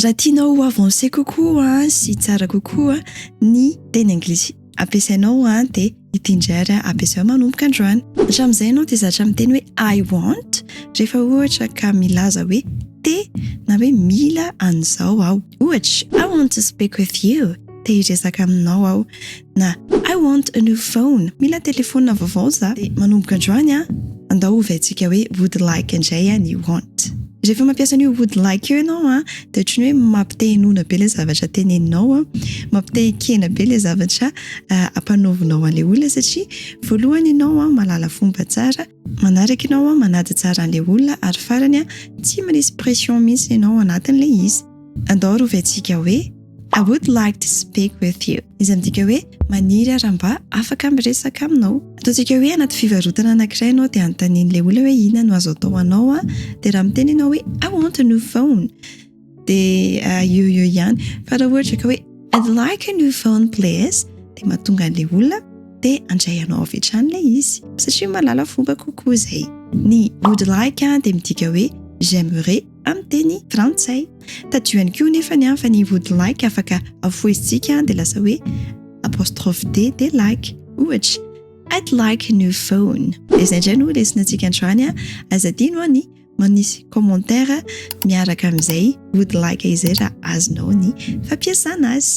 Raha tianao ho avancer kokoa sy tsara kokoa ny teny anglisy ampiasainao dia ity indray ampiasao manomboka androany. Hatramin'izay ianao dia zatra miteny hoe I want rehefa ohatra ka milaza hoe te na hoe mila an'izao aho. Ohatra, I want to speak with you. te hiresaka aminao aho na I want a new phone, mila telefaonina vaovao za, dia manomboka androany an, andao hovaintsika hoe would like indray an i want. Rehefa mampiasa an'io would like io ianao an, dia ohatry ny hoe mampite-hinoana be ilay zavatra teneninao an, mampite-hikena be ilay zavatra ampanaovinao an'ilay olona satria voalohany ianao an malala fomba tsara, Manaraka ianao an, manady tsara an'ilay olona ary farany an, tsy manisy pression mihitsy ianao ao anatin'ilay izy. Andao rovaintsika hoe, I would like to speak with you, izay midika hoe, maniry aho raha mba afaka miresaka aminao. Ataontsika hoe anaty fivarotana anankiray ianao dia anontanian'ilay olona hoe inona no azo atao ho anao an, dia raha miteny ianao hoe, I want a new phone, dia eo eo ihany fa raha ohatra ka hoe I'd like a new phone please dia mahatonga an'ilay olona dia handray anao avy hatrany ilay izy satria mahalala fomba kokoa izay. Ny would like dia midika hoe j'aimerais amin'ny teny frantsay. Tadidio ihany koa nefa ny an fa ny would like afaka afoizitsika dia lasa hoe apostrophe D dia like. Ohatra, I'd like a new phone. Dia izay indray no lesona antsika androany an, aza adino an ny manisy commentaire miaraka amin'izay ody like izay raha azonao ny fampiasana azy.